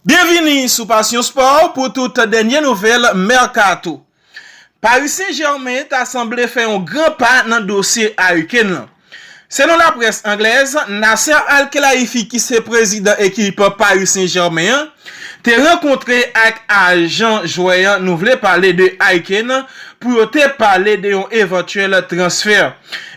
Byenvini sou Passion Sport pou tout dènye nouvèl mèkato. Paris Saint Germain ta sanble fè yon gran pa nan dosye Harry Kane lan. Selon laprès anglèz, Nasser Al-Khelaifi ki se prezidan ekip Paris Saint Germain an, te rankontre ak ajan jwè an nou vle pale de Harry Kane pou yo te pale de yon evantyèl transfer.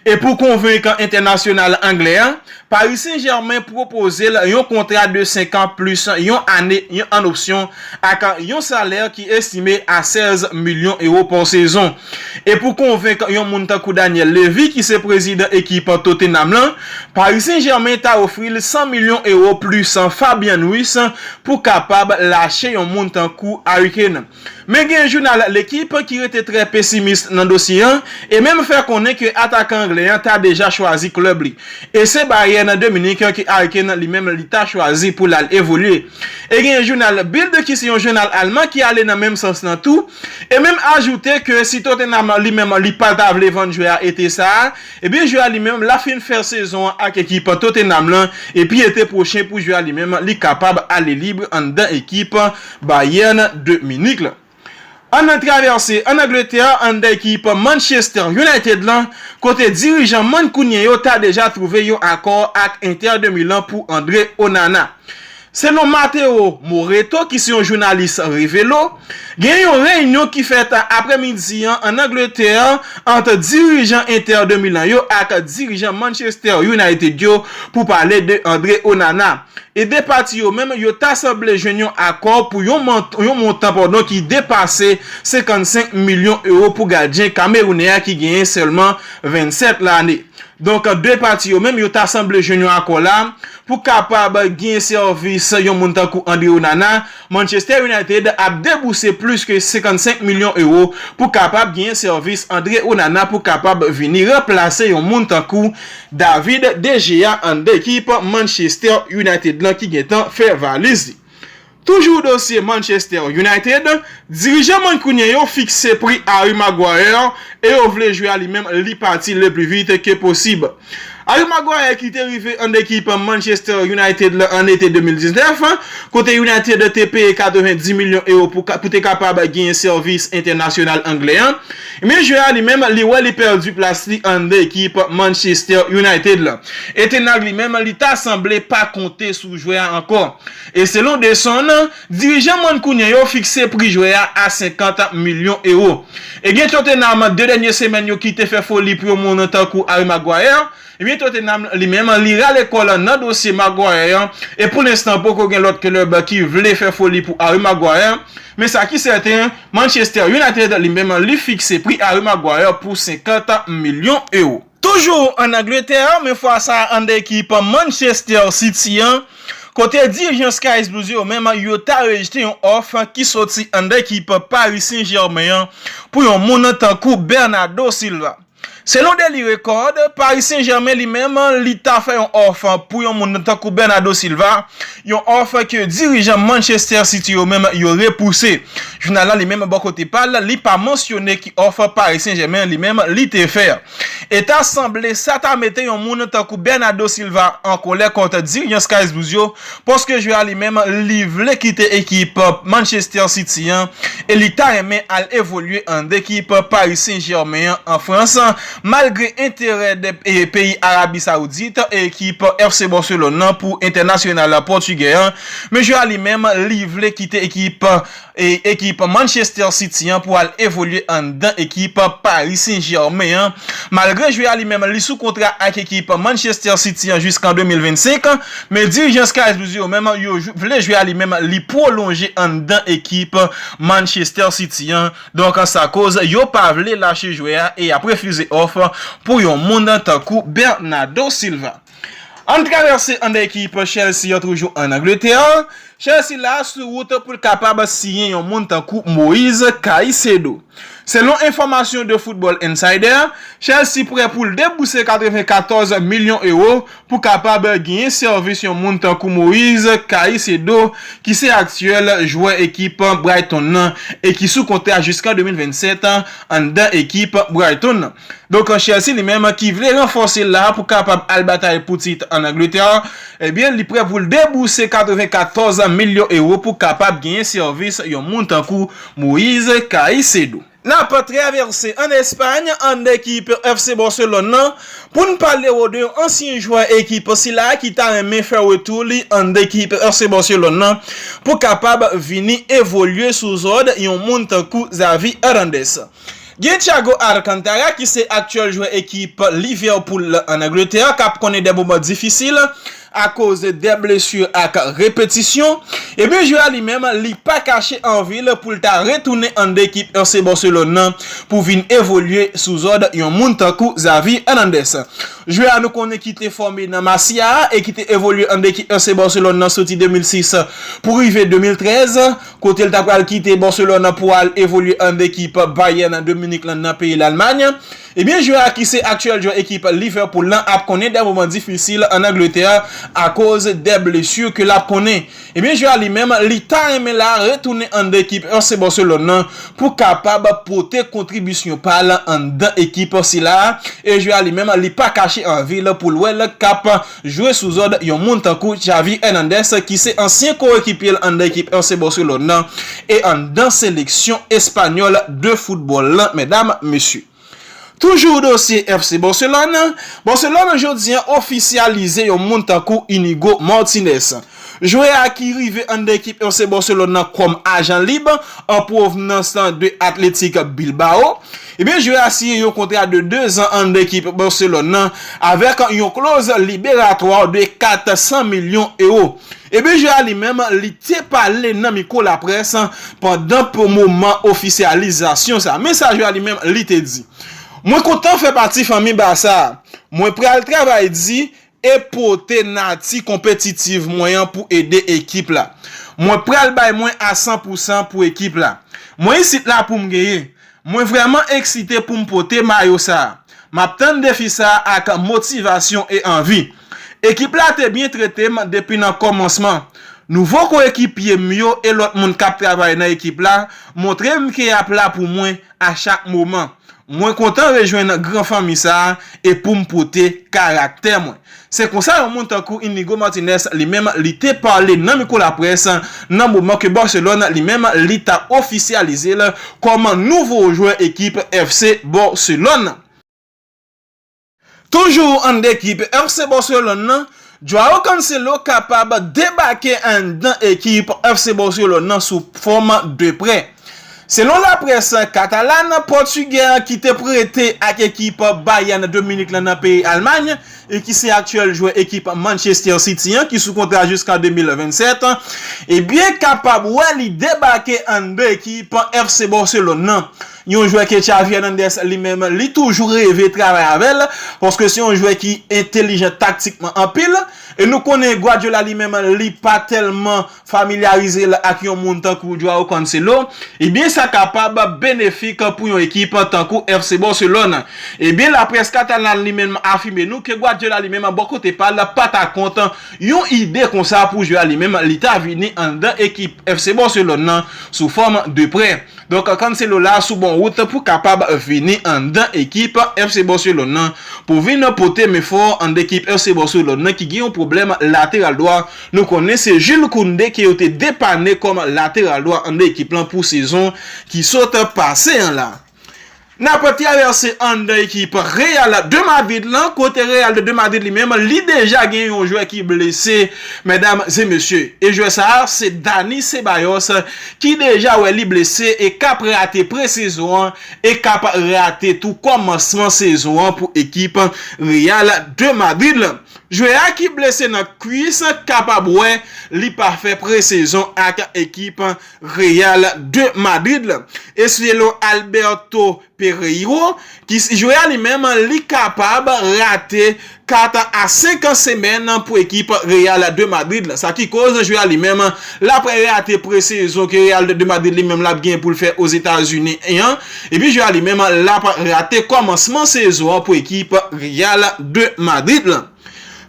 E pou konvenkan entènasyonal anglè a, Paris Saint-Germain pwopoze l yon kontra de senkan plis yon ane an opsyon ak yon salè ki estime a 16 milyon ewo pa sezon. E pou konvenk yon moun tankou Daniel Levy ki se prezidan ekip Tottenham lan, Paris Saint-Germain ta ofri l 100 milyon ewo plis Fabian Ruiz pou kapab lache yon moun tankou Harry Kane. Men gen jounal L'Equipe ki rete trè pesimis nan dosye an e menm fè konnen ke atakan anglè an ta deja chwazi klèb li e se Bayern de Munich ke Harry Kane li menm li ta chwazi pou l al evolye. E gen jounal Bild ki se yon jounal alman ki ale nan menm sans lan tou e menm ajoute ke si Tottenham li menm li pa ta vle vann jwè a ete sa a, ebyen jwè a li menm la fin fè sezon an ak ekip Tottenham lan epi ete pwochen pou jwè a li menm li kapab ale lib anndan ekip Bayern de Munich la. Ann al travèse ann Angletè ann da ekip Manchester United la kote dirijan mankounyen yo ta deja twouve yon akò ak Inter de Milan pou Andre Onana. Selon Matteo Moretto ki se yon jounalis Revelo, gen yon reyinyon ki fèt aprè midi an ann Angletè ant dirijan Inter de Milan yo ak dirijan Manchester United yo pou pale de Andre Onana. E 2 pati yo menm, yo ta sanble jwenn yon akò pou yon montan padon ki depase 55 milyon ewo pou gadyen kamerounè a ki genyen sèlman 27 lane. Donk 2 pati yo menm, yo ta sanble jwenn yon akò la pou kapab genyen sèvis yon moun tankou Andre Onana, Manchester United ap debouse plis ke 55 milyon ewo pou kapab genyen sèvis Andre Onana pou kapab vini ranplase yon moun tankou David de Gea anndan ekip Manchester United lan ki gentan fè valiz li. Toujou dosye Manchester United, dirijan Mancunien yo fikse pri Harry Maguire e yo vle jwe a li menm li pati le plus vite que possible. Harry Maguire ki te rive an ekip Manchester United la an ete 2019, kote United te peye 90 milyon ewo pou te kapab genyen sèvis entènasyonal anglè an, ebyen jwè a li menm li wè li pèdi plas li an ekip Manchester United la. E Ten Hag li menm li ta sanble pa konte sou jwè a ankò. E selon The Sun, Dirijan mankounyen yo fikse pri jwè a a 50 milyon ewo. Ebyen Tottenham 2 dènye semèn yo kite fè foli pou yon moun tankou Harry Maguire, ebyen Tottenham li menm li rale kòl nan dosye Maguire an e pou lenstan poko gen lòt klèb ki vle fè foli pou Harry Maguire, men sa ki sèten Manchester United li menm li fikse pri Harry Maguire pou 50 milyon ewo. Toujou ann Angletè, men fwa sa a ann ekip Manchester City an, kote dirijan Sky's Blues yo menm yo ta rejte yon òf ki soti ann ekip Paris Saint-Germain an pou yon moun tankou Bernardo Silva. Selon Daily Record, Paris Saint-Germain li menm li ta fè yon òf pou yon moun tankou Bernardo Silva Yon òf ke dirijan Manchester City yo menm yo repouse. Jounal la li menm bò kote pa l, li pa mansyone ki òf Paris Saint-Germain li menm li te fè. E ta sanble sa ta mete yon moun tankou Bernardo Silva an kolè kont dirijan Skyz Blues yo paske jwè a li menm li vle kite ekip Manchester City an e li ta renmen al evolye an ekip Paris Saint-Germain an Frans. Malgre enterè 2 peyi Arabi Saoudit ekip FC Barcelone nan pou entènasyonal pòtigè an, mesye a li menm li vle kite ekip ekip Manchester City an pou al evolye anndan ekip Paris Saint-Germain an. Malgre jwè a li menm li sou kontra ak ekip Manchester City an jiskan 2025, men dirijan Sky Blues yo menm yo vle jwè a li menm li pwolonje anndan ekip Manchester City an. Donk sa koz yo pa vle lache jwè a e y ap refize òf pou yon moun tankou Bernardo Silva. Ann travèse ann ekip Chelsea an toujou ann Angletè. Chelsea la sou wout pou l kapab siyen yon moun tankou Moise Caicedo. Selon enfòmasyon The Football Insider, Chelsea prè pou l debouse 94 milyon ewo pou kapab genyen sèvis yon moun tankou Moise Caicedo ki se aktyèl jwè ekip Brighton nan e ki sou kontra jiskan 2027 anndan ekip Brighton nan. Donk Chelsea li menm ki vle ranfòse l la pou kapab al batay pou tit ann Angletè, ebyen li prè pou l debouse 94 milyon ewo pou kapab genyen sèvis yon moun tankou Moise Caicedo. Nap travèse an Espay ann ekip FC Barcelone lan pou n pale w de yon ansyen jwè ekip sila ki ta renmen fè retou li ann ekip FC Barcelone lan pou kapab vini evolye sou zòd yon moun tankou Xavi Hernandez. Gen Thiago Alcantara ki se aktyèl jwè ekip Liverpool ann Angletè kap konnen de moman difisil, Akoz de blesu ak repetisyon, ebyen jwe a li menm li pa kache anvi l pou l ta retounen an ekip FC Barcelone nan pou vin evolye sou zòd yon moun tankou Xavi Hernandez. Jwè a nou konnen ki te fòme nan Masia a e ki te evolye an ekip FC Barcelone nan soti 2006 pou rive 2013 kote l ta pral kite Barcelone pou al evolye an ekip Bayern de Munich lan nan peyi Lalmay. Ebyen jwè a ki se aktyèl jwè ekip Liverpool lan ap konnen dè moman difisil an Angletè akoz dè blesu ke lap konnen. Ebyen jwè a li menm li ta renmen la retounen anndan ekip FC Barcelone lan pou kapab pote kontribisyon pal anndan ekip sila e jwè a li menm li pa kache anvil poul wèl kap jwe sou zòd yon moun tankou Xavi Hernandez ki se ansyen koekipye l anndan ekip FC Barcelone nan e anndan seleksyon espanyòl de foutbòl lan medam mesye. Toujou dosye FC Barcelone, Barcelone jodi an ofisyalize yon moun tankou Inigo Martinez. Jwè a ki rive anndan ekip FC Barcelone nan kòm ajan lib an pwovnans de Athletic Bilbao. Ebyen jwè a siyen yon kontra de 2 zan anndan ekip Barcelone nan avèk yon kloz liberatwa de 400 milyon ewo. Ebyen jwè a li menm li te pale nan mikwo laprès pandan moman ofisyalizasyon sa. Men sa jwè a li menm li te di, Mwen kontan fè pati fanmi Barça a. Mwen pral travay di e pote nati konpetitiv mwen an pou ede ekip la. Mwen pral bay mwen a san pou san pou ekip la. Mwen isit la pou m genyen. Mwen vrèman eksite pou m pote mayo sa a. M ap tann defi sa a ak motivasyon e anvi. Ekip la te byen trete m depi nan kòmansman. Nouvo koyekipye m yo e lòt moun k ap travay nan ekip la montre m ke y ap la pou mwen a chak moman. Mwen kontan rejwenn gran fanmi sa a e pou m pote karaktè mwen. Se konsa yon moun tankou Inigo Martinez li menm li te pale nan mikwo laprès nan moman ke Barcelone li menm li t ap ofisyalize l kòm nouvo jwè ekip FC Barcelone. Toujou ann ekip FC Barcelone nan, Joao Cancelo kapab debake anndan ekip FC Barcelone nan sou fòm de prè. Selon laprès katalàn, pòtigè an ki te prete ak ekip Bayern de Munich lan nan peyi Almay e ki se aktyèl jwè ekip Manchester City an ki sou kontra jiskan 2027, ebyen kapab wè li debake anndan ekip FC Barcelone nan. Yon jwè ke Xavi Hernandez li menm li toujou reve travay avè l, paske se yon jwè ki entelijan taktikman anpil, e nou konnen Guardiola li menm li pa tèlman familyarize l ak yon moun tankou Joao Cancelo, ebyen sa kapab benefik pou yon ekip tankou FC Barcelone. Ebyen laprès katalan li menm afime nou ke Guardiola li menm bò kote pa l pa ta kont yon ide konsa pou jwè a li menm li ta vini anndan ekip FC Barcelone nan sou fòm de prè. Donk Cancelo la sou bon wout pou kapab vini anndan ekip FC Barcelone nan pou vin pote men fò anndan ekip FC Barcelone nan ki gen yon pwoblèm lateral dwa. Nou konnen se Jules Koundé ke yo te depane kòm lateral dwa anndan ekip lan pou sezon ki sot pase an la. N ap travèse anndan ekip Real de Madrid lan kote Real de Madrid li menm li deja gen yon jwè ki blese medam e mesye e jwè sa a se Dani Ceballos ki deja wè li blese e k ap rate presezon an e k ap rate tou kòmansman sezon an pou ekip Real de Madrid lan. Jwè a ki blese nan kwis kapab wè li pa fè presezon ak ekip Real de Madrid la eseye lo Alberto Pereiro ki si jwe a li menm li kapab rate 4 a 5 semèn pou ekip Real de Madrid la sa ki koz jwe a li menm lap rate presezon ke Real de Madrid li menm lap gen poul fè Ozetazini an epi jwe a li menm lap rate kòmansman sezon an pou ekip Real de Madrid la.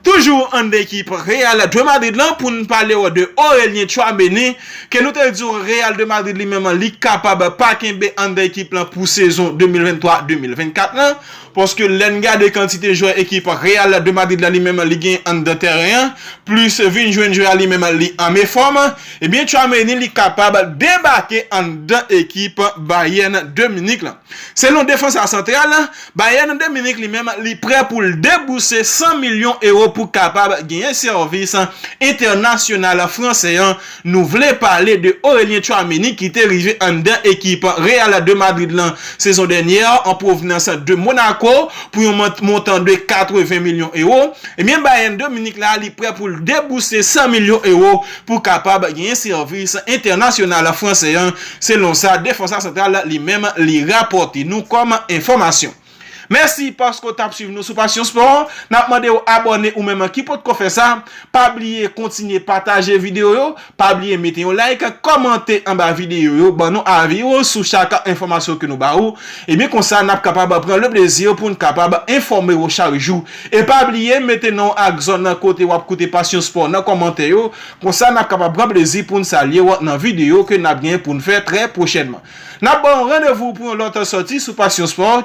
Toujou an ekip Real de Madrid lan pou n pale w de Aurelien Tchouaméni ke nou te di w Real de Madrid li menm li kapab pa kenbe anndan ekip lan pou sezon 2023, 2024 lan paske lè n gade kantite jwè ekip Real de Madrid la li menm li gen anndan tèren an plis vin jwenn jwè a li menm li anme fòm ebyen Tchouaméni li kapab debake anndan ekip Bayern de Munich lan. Selon defansa santral Bayern de Munich li menm li prè pou l debouse 100 milyon ewo pou kapab genyen sèvis entènasyonal fransè an, nou vle pale de Aurelien Tchouaméni ki te rive anndan ekip Real de Madrid lan sezon dènyè an pwovnans de Monaco pou yon montan de 80 milyon ewo, ebyen Bayern de Munich la li prè pou l debouse 100 milyon ewo pou kapab genyen sèvis entènasyonal fransè an, selon sa Defensa Central li menm li rapòte nou kòm enfòmasyon. Mèsi paske w t ap swiv nou sou Passion Sport. N ap mande w abòne ou menm ki potko fè sa. Pa bliye kontinye pataje videyo yo, pa bliye mete yon like, kòmante anba videyo yo, ban nou avi w sou chak enfòmasyon ke nou ba ou. Ebyen konsa n ap kapab pran le plezi pou n kapab enfòme w chak jou. E pa bliye mete non w ak zòn nan kote wap koute Passion Sport nan kòmantè yo, konsa nap kapab pran plezi poun salye w nan video ke nap gen poun fè trè pwochènman. Nap ba w randevou pou yon lòt sòti sou Passion Sport.